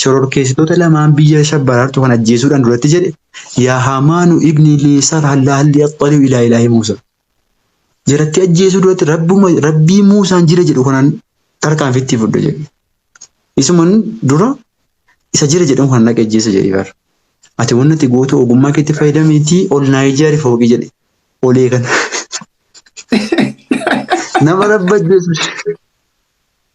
Shororkeessitoota lamaan biyya shabbaraartu kan ajjeesuudhaan duratti jedhe yaa haamaanu ibni lii sarha laalli axxaliu ilaa ilaahi Muusaa. Jarattii ajjeesuu duratti rabbuma rabbii Muusaan jira jedhu kanan tarkaanfitti fudhe jedhe. Isuman dura isa jira jedhan kan dhaqe ajjeesa jedhe bar. Ati wanni ati gootu ogummaa keetti fayyadamiitii ol naa ijaari fooqii jedhe. Olee kana. Nama rabba ajjeesu.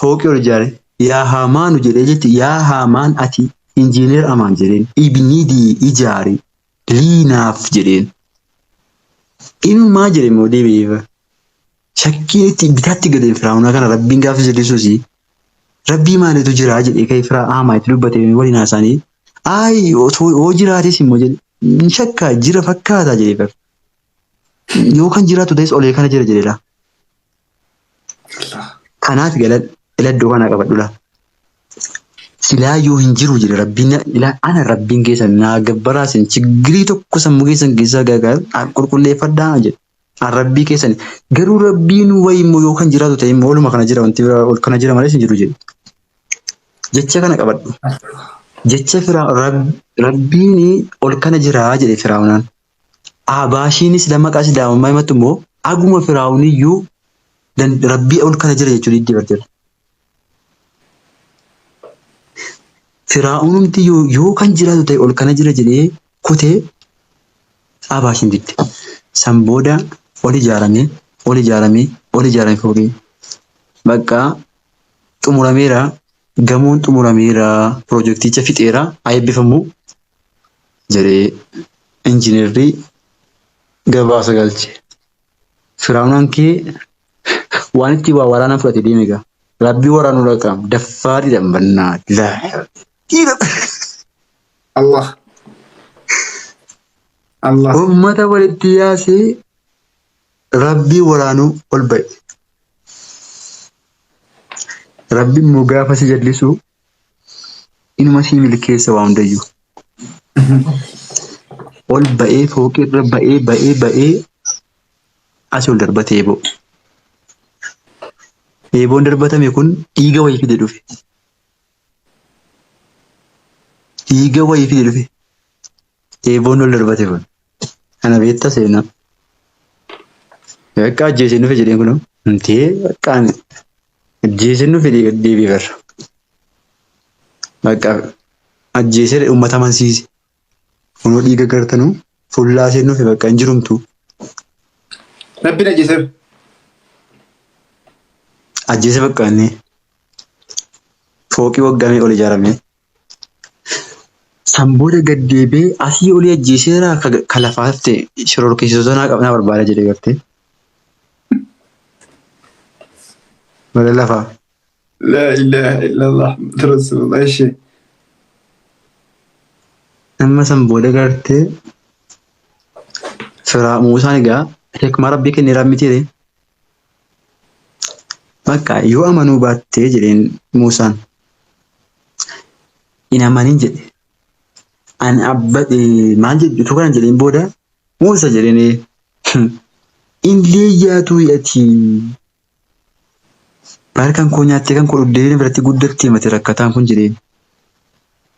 fooqii ol ijaare. Yaa Haamaanu jedhee jechu, Yaa Haamaan ati injiineer amaan jedheen, ibnidii ijaari lii naaf jedheen. Inumaa jedhe immoo deebi'ee bara. Shakkiin itti bitaatti galeen Firaa'unaa kana Rabbiin gaafas jedhisuusi. Rabbii maalitu jiraa jedhee ka'ee firaa Haamaa itti dubbatee waliin haasaanii. Ayi osoo yoo jiraates immoo jedhe hin shakkaa jira fakkaataa jedhee bara. Yoo kan jiraatu ta'es olee kana jira jedheedha. irraa. Kanaaf ila ila iddoo kana qabadhu laa. Silaa yoo hin jiru jedhe rabbiin na- ila ana rabbiin keessan naa gabbaraa sin chiggirii tokko sammuu keessan keessaa gaagaa an qulqulleeffadhaa na jedhe. An rabbii keessan garuu rabbiin wayi immoo yoo kan jiraatu ta'e immoo oluma kana jira wanti biraa ol kana jira malee sin jiru jedhe. Jecha kana qabadhu. Jecha firaa rab, rabbiin ol kana jiraa jedhe firaa'unaan. Aabaashiinis lama qasi daamammaa himatti immoo aguma firaawuniyyuu rabbii ol kana jira jechuu diddee barteera. Firaawunumti yoo, yoo kan jiraatu ta'e ol kana jira jedhee kutee aabaashiin didde. San booda ol ijaaramee, ol ijaaramee, ol ijaaramee foogee. Baqqaa xumurameera, gamoon xumurameera, pirojekticha fixeera, haa eebbifamu. jedhee injinarri gabaasa galche. Firaa'unaan kee waan itti waa waraanaa fudhate deeme egaa. Rabbii waraanuu dhaqaam daffaa dhiidhaan bannaa laa dhiira Allah Allah ummata walitti yaasee rabbii waraanuu ol ba'e. Rabbi immoo gaafa si jallisuu Inuma sii milkeessa waa hundayyuu. Ol ba'ee fooqirra ba'ee ba'ee ba'ee asii ol darbate eeboo. Eeboon darbatame kun dhiiga wayii fide dhufe. Dhiiga wayii fide dhufe. Eeboon ol darbate kun. Kana beektaa seenaa. Bakka ajjeesee dhufe jedheen kunoo. Mtee bakka ani Ajjeesee nu fidee gad deebi'e barra. Bakka ajjeesee uummata amansiise. Kunoo dhiiga gartanuu fuullaa ishee nuufi bakka hin jirumtu. Rabbiin ajjeeseera. Ajjeesee bakka inni fooqii waggaa meeqa ol ijaaramee. San booda gad deebi'ee asii olii ajjeeseera ka lafaa hafte shororkeessitoota naa qabnaa barbaada jedhe gartee. Bara lafaa. Laa ilaaha illallah Muhammad Rasulullah ishee. Amma san booda gartee firaa Muusaan egaa hikmaa rabbii kenneeraan mitiire Bakka yoo amanuu baattee jedheen Muusaan. Hin amanin jedhe. An abba maal jedhu utuu kana jedheen booda Muusa jedheen hin leeyyaatuu ati baar kan koo nyaattee kan koo dhuddee biratti guddattee mati rakkataan kun jedheen.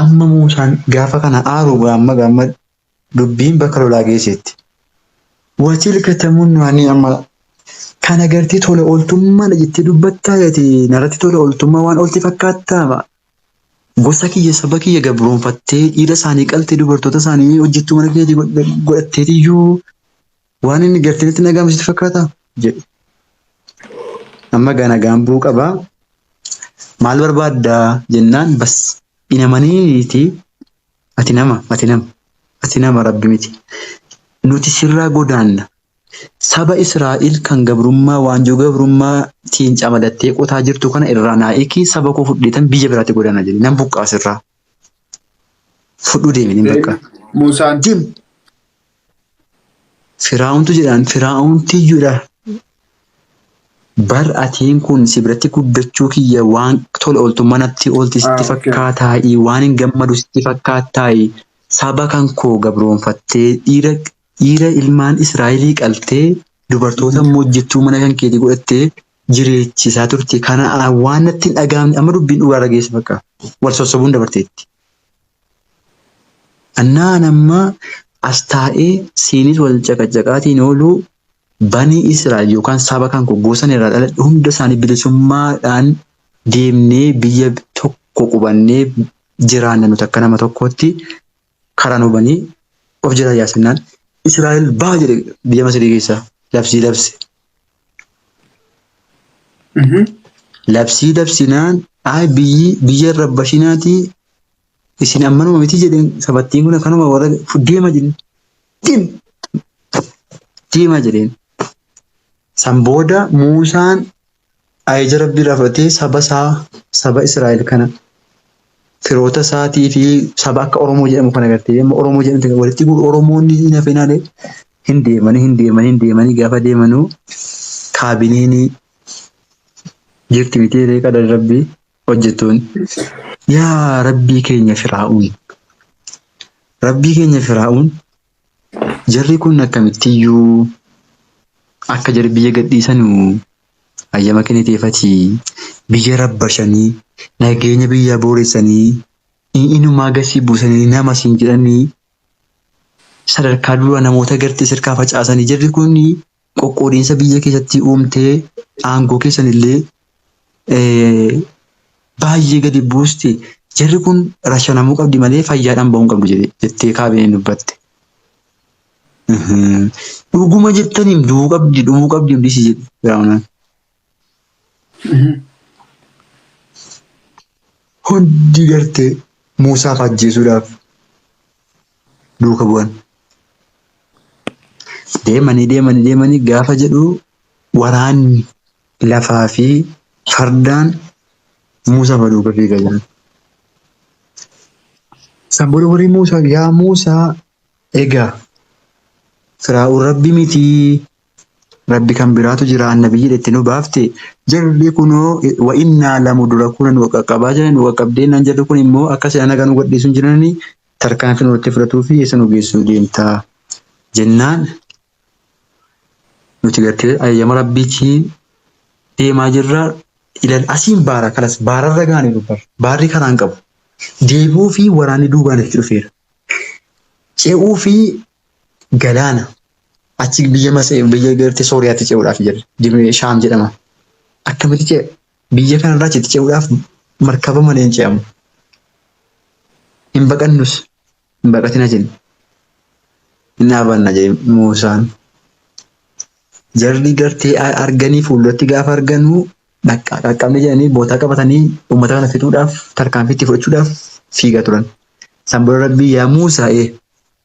Amma Muusaan gaafa kana aaruu gaamma gaamma dubbiin bakka lolaa geesseetti. Watilka tamunnu ani amma kan agartee tola ooltummaadha jettee dubbattaa ati narratti tola ooltummaa waan oolti fakkaattaa gosa kiyya saba kiyya gabroonfattee dhiira isaanii qaltee dubartoota isaanii hojjettuu mana keetii godhatteetiyyuu Waan inni gartanitti nagaa misitti fakkaataa? jedhe. Amma gaa nagaan bu'uu qabaa. Maal barbaaddaa jennaan bas inamaniiti ati nama ati nama ati nama rabbi miti nuti sirraa godaanna saba Israa'el kan gabrummaa waanjoo gabrummaa tiin camadattee qotaa jirtu kana irraa naa ikii saba koo fudheetan biyya biraatti godaana jedhe nan buqqaa sirraa fudhuu deemeen bakka Muusaan deem Firaa'untu jedhaan firaa'untiyyuudha. Bar atiin kun si biratti guddachuu kiyya waan tola ooltummaa natti oolti sitti Ah, okay. fakkaataa'i waan hin gammadu sitti fakkaattaa'i saba kan koo gabroonfattee dhiira dhiira ilmaan Israa'elii qaltee dubartoota immoo hojjettuu mana kan keetii godhattee jireechisaa turte kana ah, waan natti hin dhaga'amne amma dubbiin dhugaarra geesse bakka wal sossobuun dabarteetti. Annaa an amma as taa'ee siinis wal caqacaqaatiin ooluu banii Israa'el yookaan saba kan koo gosan irraa dhaladhe hunda isaanii bilisummaadhaan deemnee biyya tokko qubannee jiraanna nuti akka nama tokkootti karaa nu banii of jala yaasannaan Israa'el baa jedhe biyya Masirii keessaa labsii labse. Labsii labsinaan ay biyyi biyya irra bashinaatii Isin ammanuma miti jedheen sabattiin kun akkanuma warra deema jedheen. Deem! Deema jedheen. San booda Muusaan ajaja Rabbii irraa fudhatee saba isaa saba Israa'el kana firoota isaatii fi saba akka Oromoo jedhamu kana gartee amma Oromoo jedhamte walitti guuru Oromoonni hin hafinaale hin deemanii hin deemanii hin deemanii gaafa deemanuu kaabineenii jirti miti reeqa Rabbii. hojjettoonni yaa rabbii keenya firaa'uun rabbii keenya firaa'uun jarri kun akkamittiyyuu akka jarri biyya gadhiisanu hayyama kenniteefatii biyya rabbashanii nageenya biyyaa booressanii inumaa gasii buusanii nama siin jedhanii sadarkaa duraa namoota gartee sirkaa facaasanii jarri kun qoqqoodiinsa biyya keessatti uumtee aangoo keessan illee baay'ee gadi buusti jarri kun rashanamuu qabdi malee fayyaadhaan ba'uu hin qabdu jedhe- jettee kaabineen dubbatte. Mhm. Dhuguma jettaniim du'uu qabdi dhumuu qabdi hundisi jedhe Firaa'onaan. Hundi gartee Muusaa fa ajjeesuudhaaf duuka bu'an. Deemanii deemanii deemanii gaafa jedhu waraanni lafaa fi fardaan Muusaa fa duuka fiiga jiran. San booda warri Muusaa yaa Muusaa egaa Firaa'uun rabbi mitii Rabbi kan biraatu jira annabiyyiidha itti nu baafte jarri kunoo wa innaa lamu dura kunan wa qaqqabaa jiran wa qaqqabdee naan jarri kun immoo akka se'an haga nu gadhiisun jiranii tarkaanfii nurratti fudhatuu fi eessa nu geessuu deemtaa jennaan nuti gartee ayyama rabbiitii deemaa jirra ilal asiin baara kalas baararra gaane dubbar baarri karaan qabu deebi'uu fi waraanni duubaan itti dhufeera ce'uu fi galaana achi biyya Masee biyya gartee Sooriyaatti ce'uudhaaf jedhe Dimee Shaam jedhama. Akkamitti ce'a? Biyya kanarraa achitti ce'uudhaaf markaba malee hin ce'amu. Hin baqannus hin baqatina jenna. Hin dhaabanna jedhe Muusaan. Jarri gartee a- arganii fuulduratti gaafa arganuu dhaqqa- qaqqabne jedhanii bootaa qabatanii uummata kana fixuudhaaf tarkaanfii itti fudhachuudhaaf fiigaa turan. San booda Rabbii yaa Muusaa ee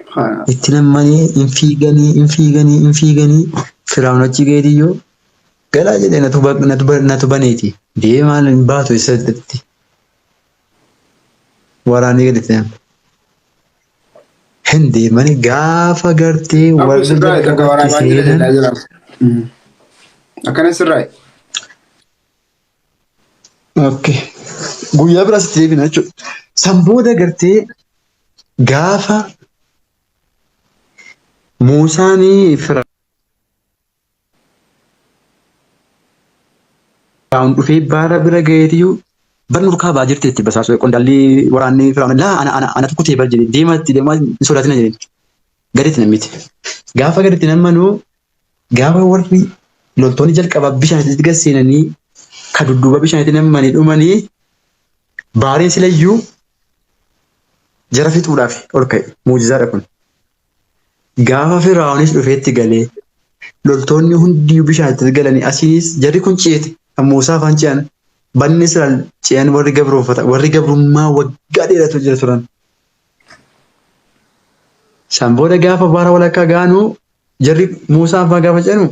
Subhaanallah. itti nammanii hin fiiganii hin fiiganii hin fiiganii firaa'un achi geetiyyuu galaa jedhee natu ba- natu ba- natu baneeti deemee maal hin baatu eessatti waraanee gadi ta'an hin deemanii gaafa gartee Abu warri sirraa takka jalqabatti waraabaa jira seenan jedhaa jira. Akkana sirraa. Okay. Guyyaa biraa sitti deebina jechuudha. San booda gartee gaafa Muusaanii Firaa'un dhufee baara bira ga'eetiyyuu bar nurkaa ba'aa jirti itti basaasuu qondaalli waraanni Firaa'un laa ana ana ana tokko ta'e bar jedhe deema itti deemaa hin sodaatina jedhe gaditti namiti. Gaafa gaditti nammanuu Gaafa warri loltoonni jalqabaa bishaan isaatti gad seenanii ka dudduuba bishaanitti nammanii dhumanii baariin silayyuu jara fixuudhaaf ol ka'e. Muujizaadha kun. Gaafa Firaa'onis dhufeetti galee loltoonni hundiyyu bishaan itti galanii asiinis jarri kun ceete kan Muusaa afaan ce'an banni Israa'el ce'an warri gabroofata warri gabrummaa waggaa dheeratu jira turan. Isaan booda gaafa baara walakkaa gaanuu Jarri Muusaa abbaa gaafa jedhanu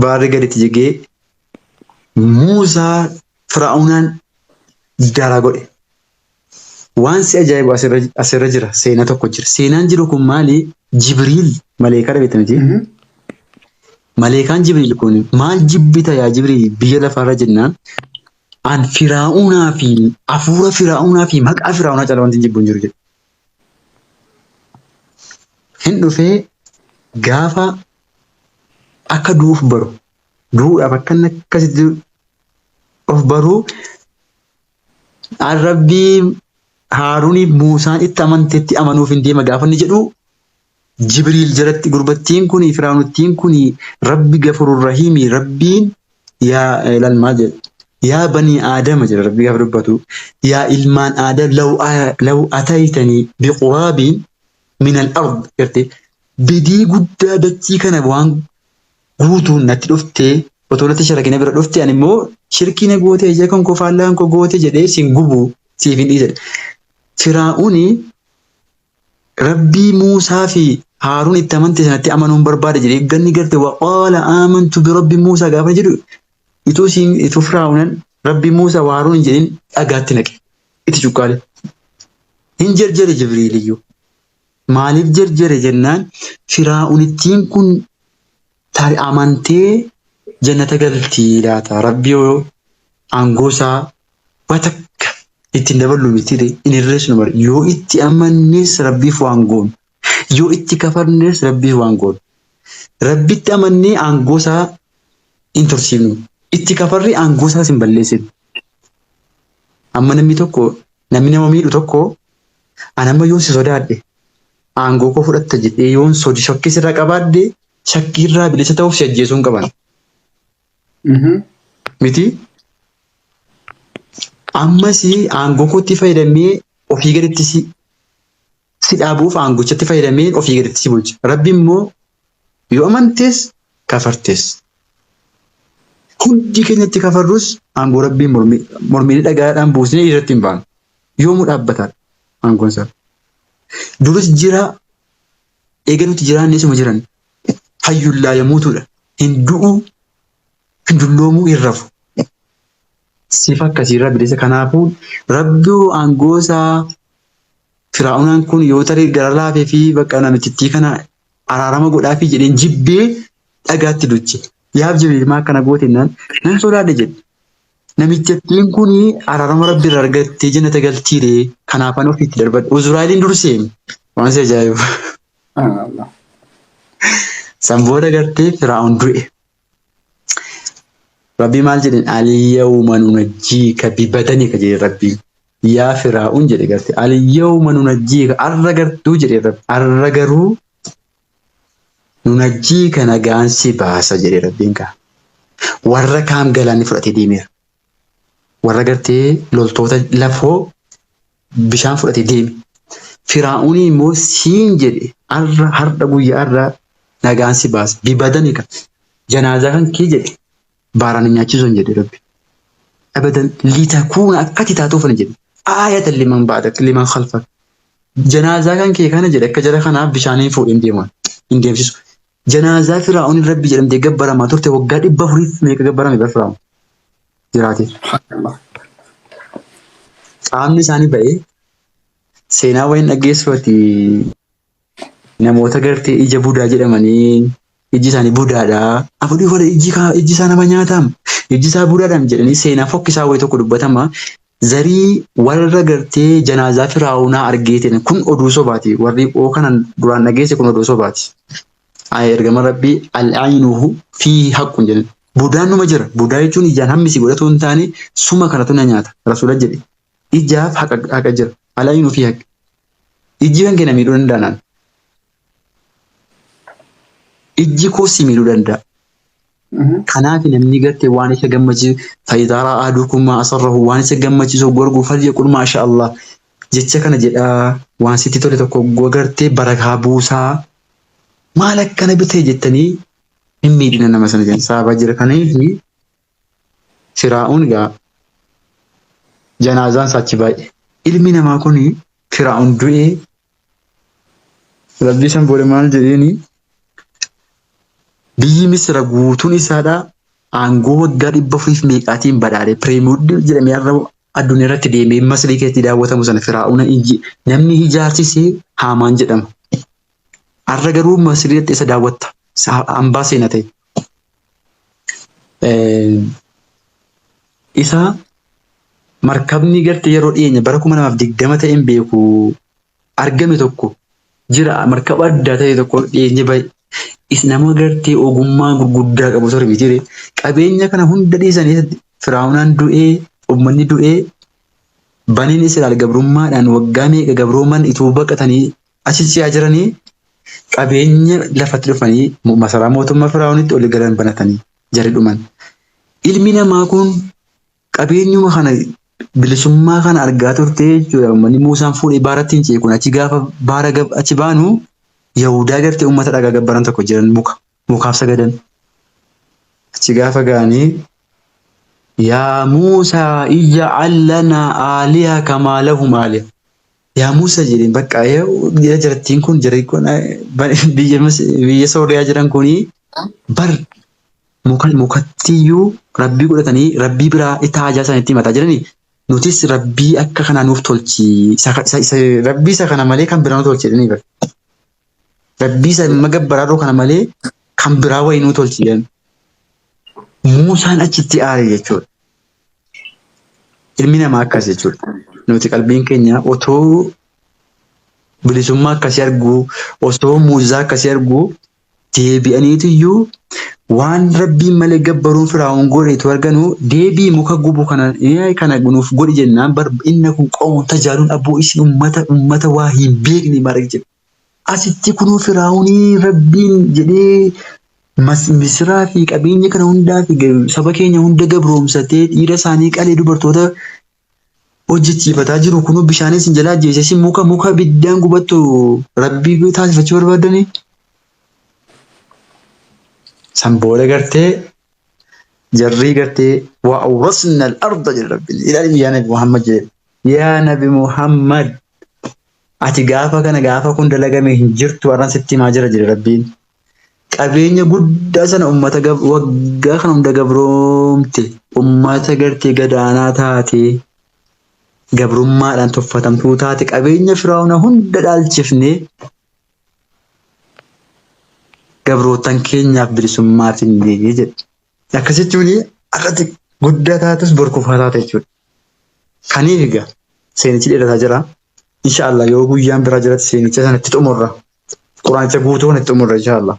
baarri gaditti jigee Muusaa Firaa'unaan daaraa godhe. Waan si ajaa'ibu asirra asirra jira seenaa tokko jira. Seenaan jiru kun maali? Jibriil maleekaa dhabeetti miti. Maleekaan Jibriil kun maal jibbita yaa Jibriil biyya lafaarra jennaan an Firaa'unaa fi hafuura Firaa'unaa fi maqaa Firaa'unaa caalaa wanti hin jibbu hin jiru jedhe. Hin dhufee gaafa akka du'uuf baru du'uudhaaf akka inni akkasitti of baruu rabbii haaruuniif muusaan itti amanteetti amanuuf hin deema gaafa inni jedhu Jibriil jalatti gurbattiin kuni firaanuttiin kuni rabbi gafurur rahiimi rabbiin yaa ilal maal jedhe yaa banii aadama jedha rabbi gaafa dubbatu yaa ilmaan aadam law a- law ataytanii biquraabiin minal ard garte bedii guddaa dachii kana waan guutuun natti dhuftee otoo natti sharakina bira dhufte ani immoo shirkii na goote ija kan koo faallaan koo goote jedhee sin gubuu siif hin dhiise jedhe. Firaa'uni Rabbii Muusaa fi Haaruun itti amante sanatti amanuun barbaada jedhee ganni garte waqaala aamantu birabbi Muusaa gaafa jedhu ituu siin ituu firaa'unan rabbi Muusaa wa Haaruun hin jedhin dhagaatti naqe itti cuqqaale hin jerjere jibriiliyyuu maaliif jerjere jennaan firaa'unittiin kun Taari amantee jannata galtii laata rabbi yoo aangoo isaa waa takka ittiin daballu mitire hin hirreessinu bar yoo itti amannes rabbiif waan goonu yoo itti kafarnes rabbiif waan goonu rabbitti amannee aangoo isaa hin tursiifnu itti kafarree aangoo isaas hin balleessinu amma namni tokko namni nama miidhu tokko An amma yoon si sodaadhe aangoo koo fudhatta jedhee yoon soji shakkii sirra qabaadde shakkii irraa bilisa ta'uuf si ajjeesuun qaban. Miti ammas aangoo kootti fayyadamee ofii gaditti si si dhaabuuf aangochatti fayyadamee ofii gaditti si bulcha. Rabbi immoo Yoo amantees kafartes. Hundi keenya itti kafarrus aangoo rabbiin mormiilee dhagaadhaan buusnee irratti hin baanu. Yoomuu dhaabbataadha aangoon isaa. Duris jiraa eega nuti jiraanne isuma jiran. Hayyuun laa yamuutuudha. Hin du'uu hin dulloomuu hin rafu. Sifa akkasiirraa bilisa kanaafuu rabbi aangoo isaa firaa'unaan kun yoo tarii gara laafee fi bakka namichittii kana Araarama godhaafii jedheen jibbee dhagaatti duche. Yaab jibriil maa akkana goote jennaan nan sodaadhe jedhe. Namichattiin kun araarama rabbi irraa argattee jannata galtiire kanaafan ofiitti darbadhe. Uzuraa'eliin durseemi waan si ajaa'ibu. San booda gartee firaa'oon du'e. Rabbii maal jedheen alyawma nunajjiika bibadanika jedhe rabbii yaa firaa'un jedhe garte alyawma nunajjiika arra gartuu jedhe rabbi arra garuu nunajjiika nagaan si baasa jedhe rabbiin kaa warra kaan galaanni fudhatee deemeera warra gartee loltoota lafoo bishaan fudhate deeme. Firaa'uun immoo siin jedhe arra hardha guyyaa irraa nagaan si baase. Bibadanika janaazaa kan kee jedhe baaraan hin nyaachisuun jedhe rabbi. Abadan litakuuna akkati taatuuf ani jedhe. Aayatan liman baadak liman khalfak. Janaazaa kan kee kana jedhe akka jara kanaaf bishaaniin fuudhee hin deeman hin deemsisu. Janaazaa Firaa'oon Rabbi jedhamtee gabbaramaa turte waggaa dhibba afuriif meeqa gabbarame bar Firaa'oon jiraatee. Qaamni isaanii ba'ee seenaa wayii dhaggeessu ati namoota gartee ija budaa jedhamanii iji isaanii budaadha. Afudhii wala iji kaa iji isaa nama nyaataam iji isaa budaadhaam jedhanii seenaa fokkisaa wayii tokko dubbatama Zarii warra gartee janaazaa firaa'oonaa argee tene kun oduu sobaati warri oo kanan duraan dhageesse kun oduu sobaati Ayi ergama rabbii al'aynuhu fi haqqun jedhan budaan numa jira budaa jechuun ijaan hammisi godhatu hin taane suma kanatu na nyaata rasuula jedhe ijaaf haqa haqa jira al'aynu fi haqq ijji kan kena miidhuu danda'a naan ijji koo si miidhuu danda'a Kanaaf namni garte waan isa gammachiisu fayidaaraa aaduu kummaa asarrahu waan isa gammachiisu gorguu falya qul maasha Allah jecha kana jedhaa waan sitti tole tokko gogartee barakaa buusaa maal akkana bitee jettanii hin miidhina nama sana jedhan saabaa jira kaniif firaa'uun gaa janaazaan saachi baay'ee ilmi namaa kun firaa'uun du'ee Rabbii san booda maal jedheeni biyyi Misira guutuun isaadhaa aangoo waggaa dhibba furiif meeqaatiin badhaadhe pireemuddi jedhamee har'a addunyaa irratti deemee masrii keessatti daawwatamu sana firaa'uuna namni ijaarsisee haamaan jedhama. Har'a garuu masrii dhaqxee isa daawwatta hambaa seena ta'e Isaa markabni garte yeroo dhiyeenya bara kuma lamaaf digdama ta'een beeku argame tokko jira markaba addaa ta'e tokko dhiyeenya bahe is nama gartee ogummaa gurguddaa qabu ture mitiire qabeenya kana hunda dhiisanii firaa'unaan du'ee ummanni du'ee baniin Israa'el gabrummaadhaan waggaa meeqa gabrooman ituu baqatanii Achi ci'aa jiranii qabeenya lafatti dhufanii masaraa mootummaa Firaa'oonitti oli galan banatanii jari dhuman. Ilmi namaa kun qabeenyuma kana bilisummaa kana argaa turtee jechuudha. Uummanni Muusaan fuudhee baaratti hin ci'e kun achi gaafa baara achi baanu Yahudaa gartee uummata dhagaa gabbaran tokko jiran muka. mukaaf sagadan. Achi gaafa ga'anii yaa Muusaa ija'al lanaa aaliha kamaa lahum aaliha. Yaa Muusaa jedheen bakka jira jirattiin kun jira kun biyya biyya Sooriyaa jiran kuni bar muka mukattiyyuu rabbii godhatanii rabbii biraa itti haajaa isaanitti himataa jiranii nutis rabbii akka kanaa nuuf tolchi isa isa rabbii isa kana malee kan biraa nu tolchi jedhanii bar. Rabbii isa amma gabbaraa kana malee kan biraa wayii nuu tolchi jedhan. Muusaan achitti aare jechuudha. Ilmi namaa akkas jechuudha. Nuti qalbiin keenya otoo bilisummaa akkasii arguu, osoo muujizaa akkasii arguu deebi'aniitu iyyuu Waan rabbiin malee gabbaruun firaa'oon godheetu arganu deebii muka gubu kana eh, kana nuuf godhi jennaan bar inni kun qoomoon tajaajiluun abboo isin ummata ummata waa hin beekne maarree jedhe. Asitti kunoo firaa'oonii rabbiin jedhee mas misiraa fi qabeenya kana hundaa fi ga- saba keenya hunda gabroomsatee dhiira isaanii qalee dubartoota hojjechiifataa jiru kunuu bishaaniin sin jalaa ajjeese isin muka muka biddaan gubattu rabbii taasifachuu barbaaddanii san booda gartee jarrii gartee waa awrasna al-arda jedhe rabbiin ilaalin yaa nabi muhammad jedhe yaa nabi muhammad ati gaafa kana gaafa kun dalagame hin jirtu arran sitti himaa jira jedhe rabbiin qabeenya guddaa sana ummata gab- waggaa kana hunda gabroomte ummata gartee gadaanaa taatee gabrummaadhaan tuffatamtuu taate qabeenya firaa'una hunda dhaalchifnee gabrootan keenyaaf bilisummaa finnee jedhe. Akka jechuun akkati guddaa taatus bor kufaa taata jechuudha. Kaniif egaa seenichi dheerataa jira. Inshaallah yoo guyyaan biraa jiratti seenicha sanatti xumurra. Quraanicha guutuun itti xumurra inshaallah.